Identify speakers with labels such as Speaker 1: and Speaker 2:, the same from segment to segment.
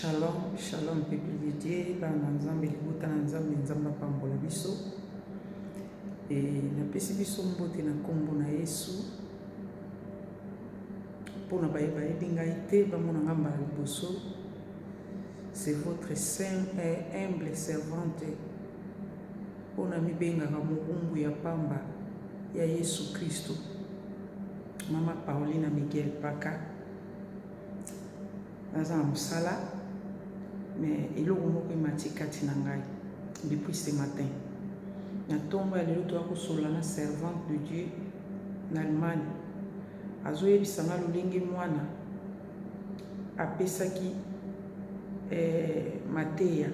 Speaker 1: Shalom, shalom peuple de Dieu, bana na Nzambe, libota na Nzambe, Nzambe apambola biso. E, napesi biso mbote na nkombo na Yesu mpo na baye bayebi ngai te bamona ngai mbala liboso. C'est votre saint et humble servante oyo namibengaka mobumbu ya pamba ya Yesu Kristo, Mama Paulina Miguel Paka. naza na mosala mais eloko moko emati kati na ngai depuis ce matin na ntongo ya lelo toya kosolola na servante de dieu na allemagne azoyebisa nga lolenge mwana apesaki eh, mateya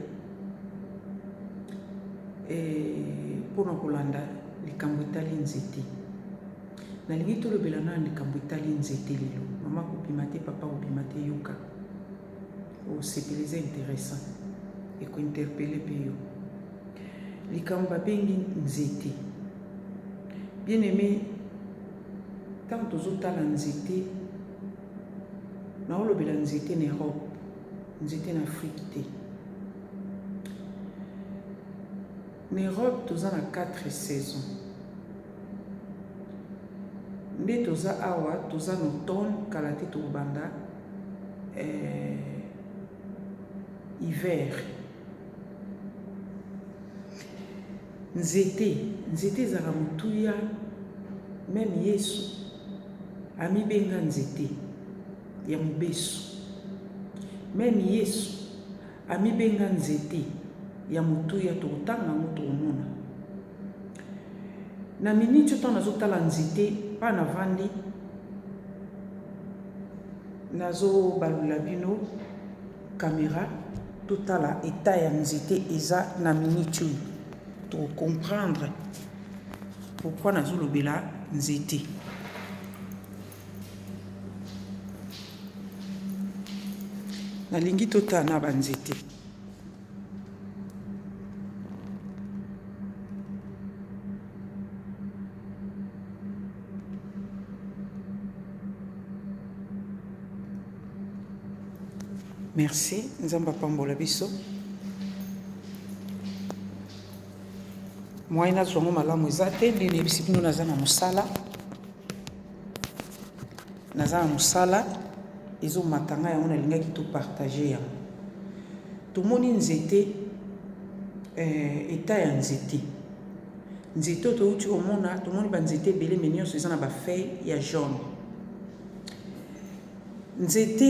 Speaker 1: eh, mpo na kolanda likambo etali nzete Nalingi tolobela nanu likambo etali nzete lelo. Mama kobima te papa kobima te yoka osepela eza interessant eko interpelle pe yo. Likambo babengi nzete. Bien aime tango tozotala nzete naolobela nzete na Europe nzete na Afrique te. Na Europe toza na 4 saisons. nde toza awa toza na automne kala te tokobanda hiver nzete nzete ezalaka motuya meme yesu amibenga nzete ya mobesu meme yesu Amibenga nzete ya motuya tokotanga yango tokomona na minute oyo ntango nazotala nzete mpa navandi nazobalula bino kamera totala eta ya nzete eza na minute oyo tokokomprendre pourkui nazolobela nzete nalingi totala na banzete merci nzambe apambola biso moyen nazwa yango malamu eza te nde nayebisi bino naza na mosala naza na mosala ezomata ngai yango nalingaki to partage yango tomoni nzete eh, eta ya nzete nzete oyo touti komona tomoni banzete ebele me nyonso eza na bafeuille ya jaune nzete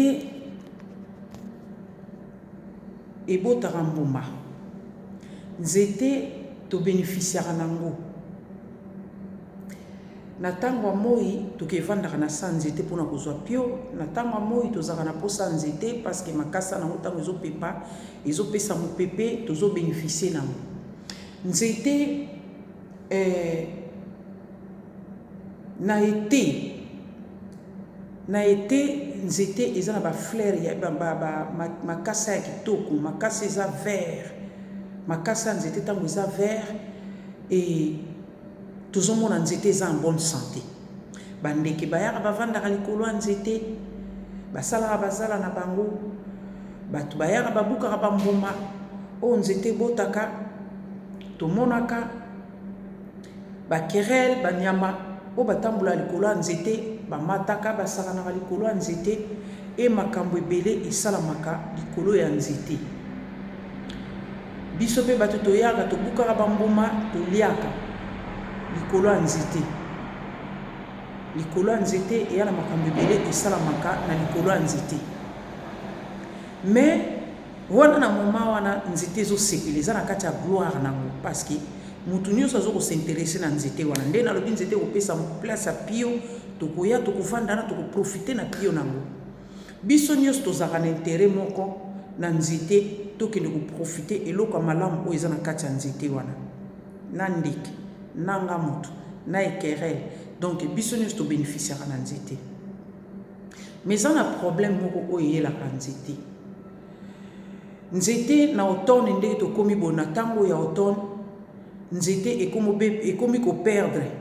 Speaker 1: ebotaka mbuma nzete tobénéficiaka na yango Na ntango ya moi tokevandaka na se ya nzete mpo na kozwa pio. Na ntango ya moi tozalaka na mposa ya nzete parce que makasa na yango ntango ezopepa ezopesa mopepe tozo beneficie na yango. Nzete eh, na ete na ete nzete eza na bafleur ya ba, ba, ba, makasa ya kitoko makasa eza vert makasa ya nzete ntango eza vert e Tozomona nzete eza en bonne sante. Ba ndeke bayaka bavandaka likolo ya nzete. Basalaka ba zala na bango. Bato bayaka babukaka ba mbuma oyo nzete ebotaka. Tomonaka ba querelle, ba nyama oyo batambolaka likolo ya nzete. Bamataka, basakanaka likolo ya nzete. Et makambo ebele esalamaka likolo ya nzete. Biso pe batu toyaka tobukaka ba mbuma toliaka likolo ya nzete likolo ya nzete eya na makambo ebele esalamaka na likolo ya nzete mais wana na moma wana nzete ezosepela eza na kati ya gloire nango parceke mutu nyonso azoko s'interesse na nzete wana nde nalobi nzete ekopesa place ya pio tokoya tokofanda na tokoprofite na pio nango Biso nioso tozalaka na interet moko na nzete tokende ko profiter eloko ya malamu oyo eza na kati ya nzete wana na ndeke na nga mutu na ekerel donc biso nioso to beneficiaka na nzete mais eza na problème moko oyo eyelaka nzete nzete na automne ndenge tokomi boye na tango ya automne nzete ekomi ko perdre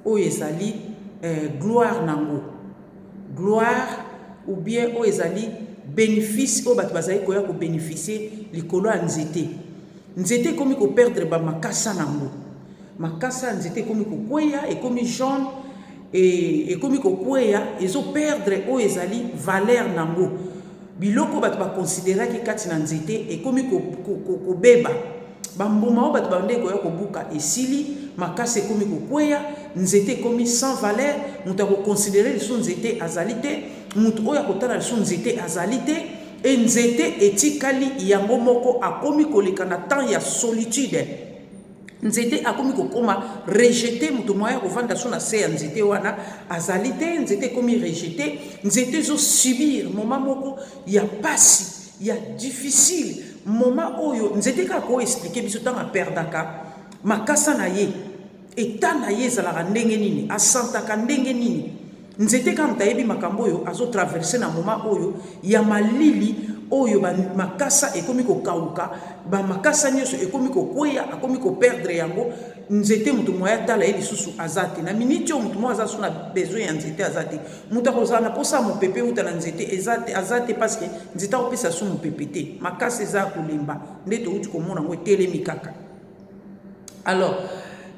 Speaker 1: oyo ezali eh, gloire nango gloire ou bien oyo ezali benefice oyo bato bazali koya ko beneficier likolo ya nzete. Nzete ekomi ko perdre ba makasa na yango. Makasa ya nzete ekomi kokweya, ekomi jaune, et ekomi kokweya, ezo perdre oyo ezali valeur na yango. Biloko bato ba consideraki kati na nzete ekomi kobeba. Ba mbuma oyo bato babandaki koya kobuka esili, makasa ekomi kokweya, nzete ekomi sans valeur, moto ya ko considerer lisusu nzete azali te, moto oyo akotala lisusu nzete azali te et nzete etikali yango moko, akomi koleka na temps ya solitude, nzete akomi kokoma rejeter, moto moyen ya kovanda lisusu na se ya nzete wana azali te, nzete ekomi rejeter, nzete ezo subir moment moko ya pasi. ya difficile moment oyo nzete kaka ko expliquer biso ntango aperdaka makasa na ye eta na ye ezalaka ndenge nini asantaka ndenge nini nzete kaka moto ayebi makambo oyo azotraverse na moment oyo ya malili oyo makasa ekomi kokauka bamakasa nyonso ekomi kokweya akomi koperdre yango nzete moto moye atala ye lisusu aza te na miniti oyo moto moko aza lisusu na besoin ya nzete aza te moto akozala na mposa ya mopepe uta na nzete eza te aza te parceke nzete akopesa lisusu mopepe te makasi eza ya kolemba nde touti komona yango etelemi kaka alors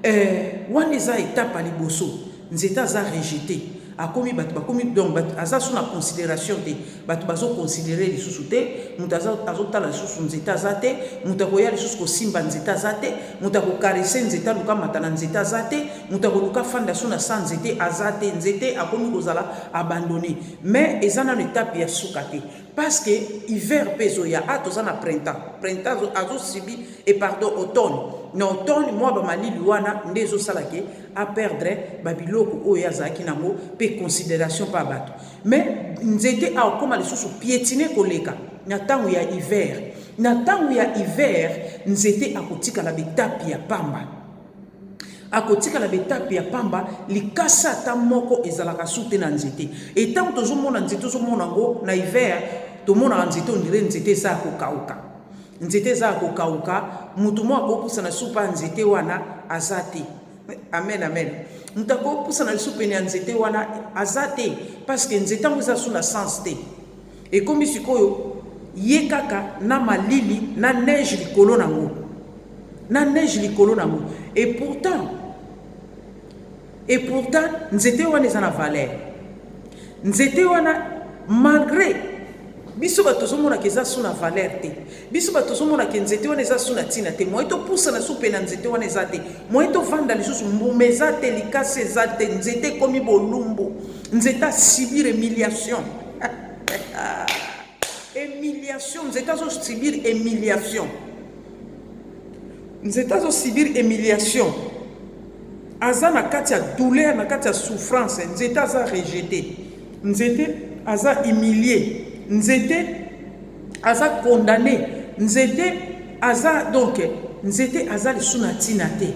Speaker 1: eh, wana eza etape ya liboso nzete aza rejete akomi batu bakomi donc batu aza su na consideration te batu bazo considere lisusu te mutu aza azotala lisusu nzete aza te mutu akoya lisusu kosimba nzete aza te mutu akokarese nzete aluka mata na nzete aza te mutu akoluka fanda su na sa nzete aza te nzete akomi kozala abandone mais eza nano etape ya suka te Parce que hiver pe ezo ya ah toza na printemps printemps azo subi et pardon automne na automne moi ba malili wana nde ezo sala ke a perdre ba biloko oyo azalaki nango pe consideration pa bato mais nzete a okoma lisusu piétiner koleka na tango ya hiver na tango ya hiver nzete akotikala bitapi ya pamba akotikala na betape ya pamba likasa ata moko ezalaka su te na nzete etango tozomona nzete ozomona yango na hiver tomonaka nzete ondire nzete eza ya kokauka nzete eza ya kokauka motu moko akopusa na supa ya nzete wana aza te amen amen moto akopusa na lisu pene ya nzete wana aza te parceke nzete yango eza su na sens te Ekomi sikoyo ye kaka na malili na neige likolo nango na neige likolo nango et pourtant et pourtant nzete wana eza na valeur nzete wana malgre biso bato tozomonaka eza so na valeur te Biso batu tozo mona ke nzete wana eza su na tina te moyen to pusana su pena nzete wana eza te moyen to vanda lisusu mbuma eza te likasi eza te nzete ekomi bolumbu nzete a subir humiliation humiliation nzete azo subir humiliation nzete azo subir humiliation aza na kati ya douleur na kati ya souffrance nzete aza rejete nzete aza humilie nzete aza condamne nzete aza donc nzete aza lisu na ntina te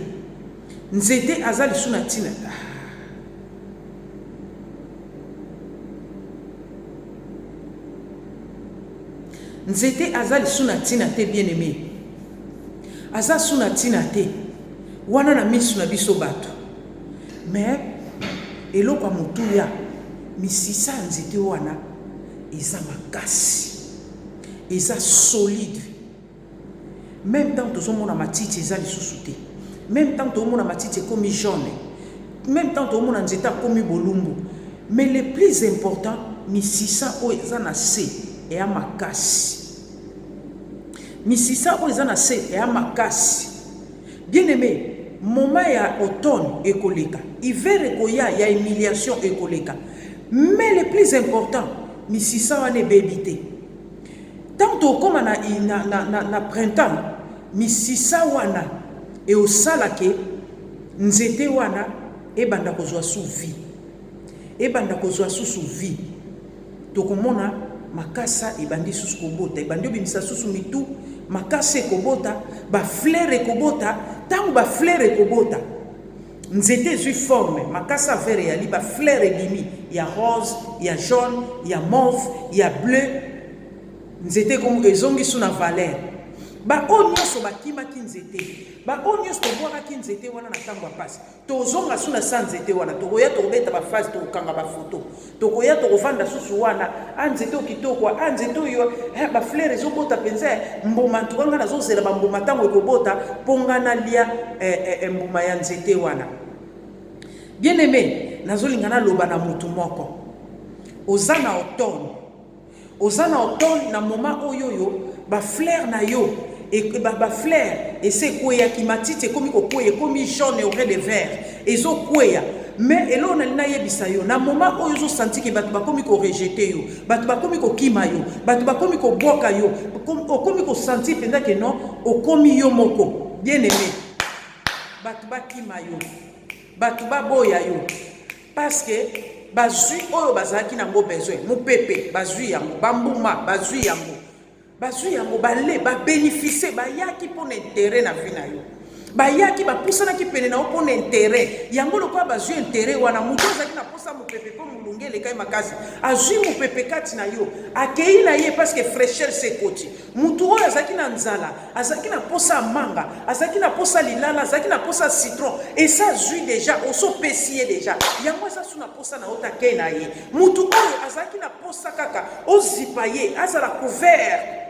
Speaker 1: nzete aza lisu na ntina nzete aza lisu na ntina te bien aime aza su na ntina te wana na misu na biso bato mais eloko ya motuya misisa ya nzete wana Eza makasi eza solide meme tango tozomona matiti eza lisusu te meme tango toomona matiti ekomi jaune meme tango toomona nzete akomi bolumbu mais le plus important misisa oyo eza na se eya makasi misisa oyo eza na se eya makasi Bien aime moment ya automne ekoleka hiver ekoya ya humiliation ekoleka mais le plus important misisa wana ebebi te tango tokoma na, na, na, na, na printemps misisa wana eosala ke nzete wana ebanda kozwa su vie ebanda kozwa susu vie Tokomona makasa ebandi lisusu kobota, ebandi obimisa lisusu mitu, makasa ekobota, ba fleure ekobota, tango ba fleure ekobota, nzete ezui forme, makasa vert eyali, ba fleure ebimi, ya rose, ya jaune, ya mauve, ya bleu, nzete ezongi su na valeur. Ba oyo nionso bakimaki nzete, ba oyo nionso tobwakaki nzete wana na tango ya pasi, Tozonga sous na sans nzete wana tokoya tokobeta ba phase tokokanga ba photo tokoya tokovanda susu wana a ah, nzete okitoko a ah, nzete oyo eh, ba fleur ezobota mpenza eh, mbuma ntuka ngai nazozela bambuma ntango ekobota mpo ngai nalia eh, eh, eh, mbuma ya nzete wana bien aime nazolinga naloba na motu moko oza na otone Oza na otone na moment oyoyo ba flair na yo ba flair esi ekweyaki matiti ekomi kokweya ekomi jaune aurait de vert ezokweya mais eloo nali nayebisa yo na moment oyo ozosanti ke bato bakomi korejete yo bato bakomi kokima yo bato bakomi kobwaka yo okomi kosanti mpenza ke non okomi yo moko bien aime bato bakima yo bato baboya yo Parce que bazui oyo bazalaki nango besoin mupepe bazui yango bambuma bazui yango bazui yango bale babenefise bayaki mpo na intere na vi na yo bayaki bapusanaki pene na yo mpo na intere yango lokola bazwi intere wana moto azalaki na mposa mopepe mpo molunge elekai makasi azwi mopepe kati na yo akei na ye parceke fraîcheur sekoti moto oyo azalaki na nzala Azalaki na posa ya manga, azalaki na posa lilala, azalaki na posa citron. Et ça zui déjà, oso pesi ye déjà. Yango eza sous na posa na ota ke na ye. Mutu oyo azalaki na posa kaka ozipa ye, azala couvert.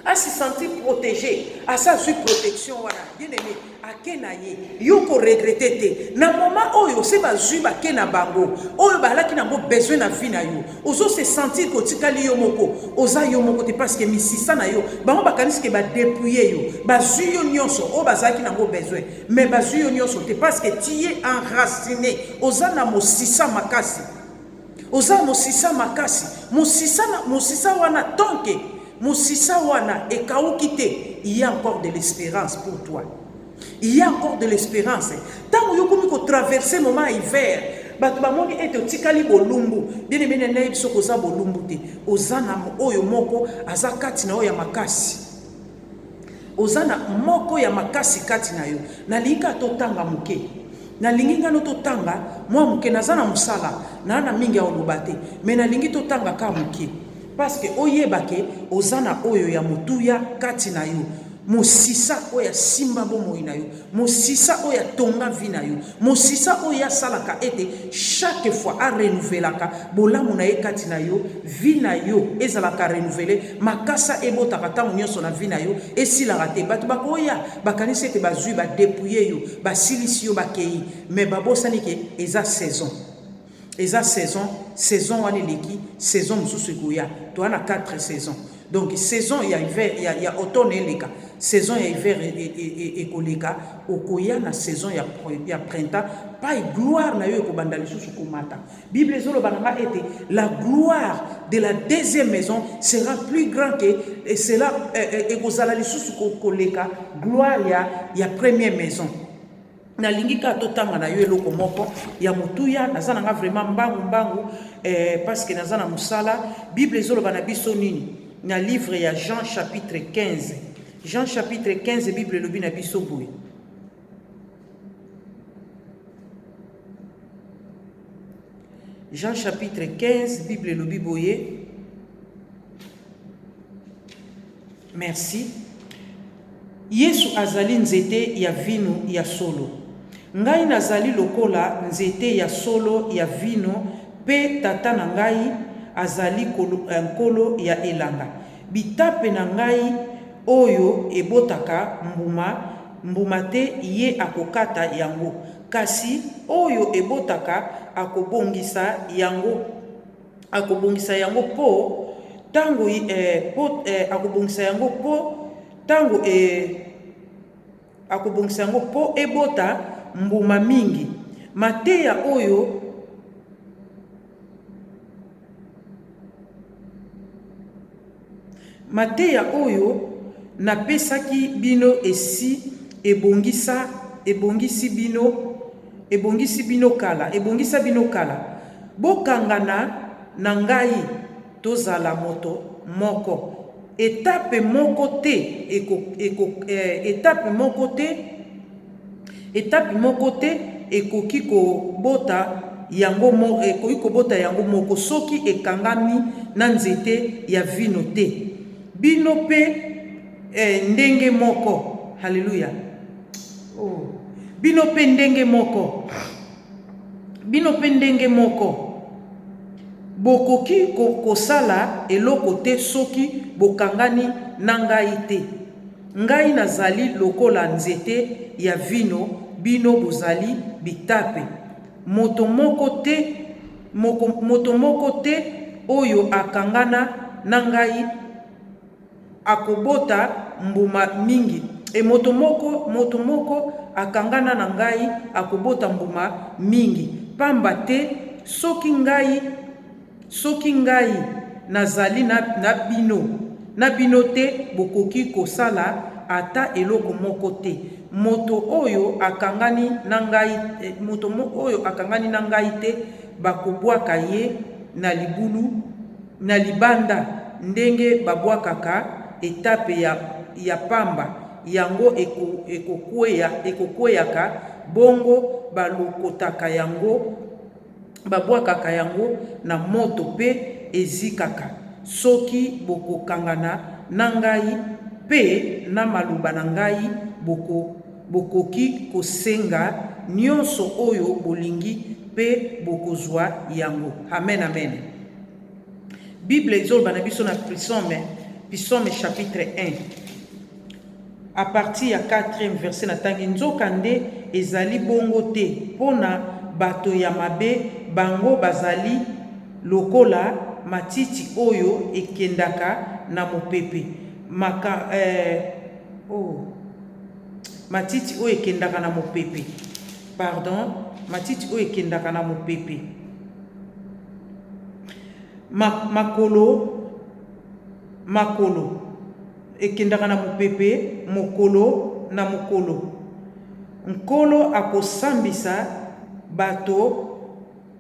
Speaker 1: Asi sentir protégé, asa zui protection wana. Bien aimé, ake na ye yo ko regrete te na moment oyo se bazwi bake na bango oyo balaki nango besoin na vie na yo ozo se sentir kotikali yo moko oza yo moko te parce que misisa na yo bango bakanisi ke badepouille yo bazwi yo nyonso oyo bazalaki nango besoin mais bazwi yo nyonso te parce que tu es enraciné oza na mosisa makasi Oza musisa makasi musisa na musisa wana tant que musisa wana ekawuki te il ya encore de l'esperance pour toi il ya encore de l'esperance tango yo komi ko traverser moment ya hiver bato bamoni ete otikali bolumbu bien aimé na nayebi soki oza bolumbu te oza na oyo moko aza kati na oyo ya makasi Oza na moko ya makasi kati na yo. Nalingi kaka totanga moke. Nalingi nga no totanga mwa moke. Naza na mosala, naa na mingi ya koloba te. Mais nalingi totanga kaka moke. Parce que oyeba que oza na oyo ya motuya kati na yo. Mosisa oyo asimba bomoi na yo. Mosisa oyo atonga vie na yo. Mosisa oyo ye asalaka ete chaque fois a renouvelaka bolamu na ye kati na yo, vie na yo ezalaka renouvele, makasa ebotaka tango nionso na vie na yo, esilaka te. Batu bakoya bakanisi ete bazui ba depouiller yo, basilisi yo, bakeyi mais babosani ke eza saison. Eza saison saison wana eleki saison mususu ekoya toa na quatre saison donc saison ya hiver ya ya automne eleka saison ya hiver e, e, e, e, ekoleka okoya na saison ya, ya printemps pai gloire na yo ekobanda lisusu komata bible ezoloba na ngai ete la gloire de la deuxième maison sera plus grand que et cela ekozala lisusu koleka gloire ya, ya première maison nalingi kaka totanga na yo eloko moko ya motuya naza na nga vraiment mbangu mbangu eh, parceke naza na mosala bible ezoloba na biso nini na livre ya jean chapitre 15 jean chapitre 15 bible elobi na biso boye jean chapitre 15 bible elobi boye Merci. Yesu azali nzete ya vino ya solo. Ngai nazali lokola nzete ya solo ya vino pe Tata na ngai azali kolo, eh, nkolo ya elanga. Bitape na ngai oyo ebotaka mbuma, mbuma te ye akokata yango, kasi oyo ebotaka akobongisa yango. akobongisa yango mpo ntango eh, po, eh, akobongisa yango mpo ntango eh, akobongisa yango mpo ebota mbuma mingi mateya oyo Mateya oyo napesaki bino esi ebongisa, ebongisi bino, ebongisi bino kala, ebongisa bino kala. Bokangana na ngai, tozala moto moko. Etape moko te eko, eko, eh, etape moko te. Etapi moko te ekoki kobota yango moko, ekoki kobota yango moko soki ekangami na nzete ya vino te. Bino mpe, ee, ndenge moko. Haleluya! Oh, bino mpe ndenge moko. Bino mpe ndenge moko. Bokoki kosala eloko te soki bokangani na Ngai te. Ngai nazali lokola nzete ya vino, bino bozali bitape. Moto moko te, moko, moto moko te oyo akangana na ngai akobota mbuma mingi, e, moto moko, moto moko akangana na ngai akobota mbuma mingi, pamba te soki ngai. Soki ngai nazali na, na bino, na bino te, bokoki kosala ata eloko moko te. Moto oyo akangani na ngai, moto oyo akangani na ngai te, bakobwaka ye na libulu, na libanda, ndenge babwakaka etape ya, ya pamba, yango eko, ekokwea, ekokweyaka, bongo balokotaka yango babwakaka yango na moto mpe ezikaka. Soki bokokangana na ngai mpe na maloba na ngai, boko, bokoki kosenga nyonso oyo bolingi mpe bokozwa yango. Amen, amen. Bible ezoloba na biso na Psaume, Psaume chapitre 1. A partir ya quatrième verset natangi, Nzokande, ezali bongo te mpo na bato ya mabe, bango bazali lokola matiti oyo ekendaka na mopepe, maka, eh, oh, matiti oyo ekendaka na mopepe, pardon, matiti oyo ekendaka na mopepe, ma, makolo, makolo, Ekendaka na mopepe mokolo na mokolo. Nkolo akosambisa bato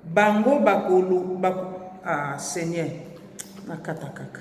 Speaker 1: bango bakolu bako ah seigneur nakata kaka.